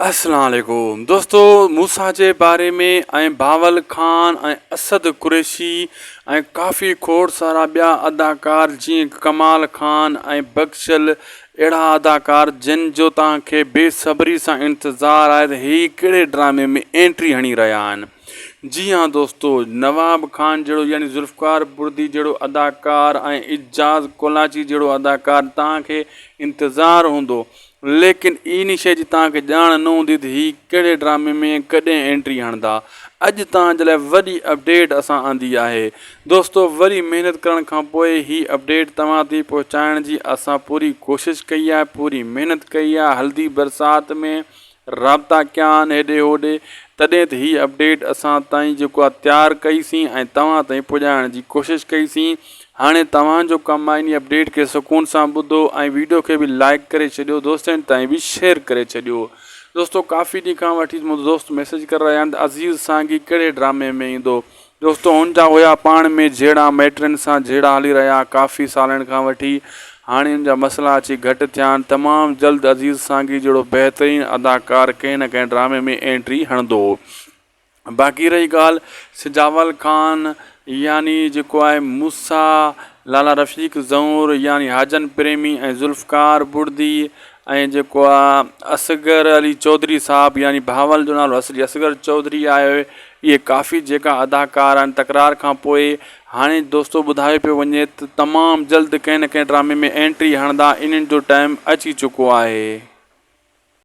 السلام عليڪم دوستو موسيٰ جي باري ۾ ۽ بهاول خان ۽ اسد قريشي ۽ ڪافي کوڙ سارا ٻيا اداڪار جيئن ڪمال خان ۽ بخشل اهڙا اداڪار جن جو توهان کي بي صبري سان انتظار آهي ته هي ڪهڙي ڊرامي ۾ اينٽري هڻي رهيا آهن جي ها دوستو نواب خان جهڙو يعني ذوالفقار بردي جهڙو اداڪار ۽ اعجاز ڪولاچي جهڙو اداڪار توهان کي انتظار هوندو ليڪن ان شيء جي توهان کي ڄاڻ نه هوندي ته هي ڪهڙي ڊرامي ۾ ۽ ڪڏهن انٽري هڻندا. اڄ توهان جي لاء وڏي اپڊيٽ اسان آندي آهي. دوستو وري محنت ڪرڻ کان پوء هي اپڊيٽ توهان تائين پهچائڻ جي اسان پوري ڪوشش ڪئي آهي، پوري محنت ڪئي آهي، هلدي برسات ۾ رابطا ڪيا آهن هيڏي هوڏي، تڏهن ته هي اپڊيٽ اسان تائين جيڪو آهي تيار ڪئي سين ۽ توهان تائين پڄائڻ جي ڪوشش ڪئي سين. هاڻي توهان جو ڪم آهي انهي اپڊيٽ کي سڪون سان ٻڌو ۽ ويڊيو کي به لائيڪ ڪري ڇڏيو دوستن تائين به شيئر ڪري ڇڏيو دوستو ڪافي ڏينهن کان وٺي منهنجو دوست ميسيج ڪري رهيا آهن ته عزيز سانگي ڪهڙي ڊرامي ۾ ايندو دوستو هن جا هيا پاڻ ۾ جهيڙا مائٽن سان جهيڙا هلي رهيا ڪافي سالن کان وٺي هاڻي ان جا مسئلا اچي گهٽ ٿيا آهن تمام جلد عزيز سانگي جهڙو بهترين اداڪار ڪنهن نه ڪنهن ڊرامي ۾ اينٽري هڻندو. باقي رهي ڳالهه سجاول خان يعني جيڪو آهي موسيٰ، لالا رفيق زئور يعني حاجن پريمي ۽ ذوالفقار بڙدي ۽ جيڪو آ اصغر علي چوڌري صاحب يعني بهاول جو نالو اصلي اصغر چوڌري آهي اهي ڪافي جيڪا اداڪار آهن تڪرار کان پوء هاڻي دوستو ٻڌايو پيو وڃي ته تمام جلد ڪنهن نه ڪنهن ڊرامي ۾ اينٽري هڻدا انهن جو ٽائيم اچي چڪو آهي.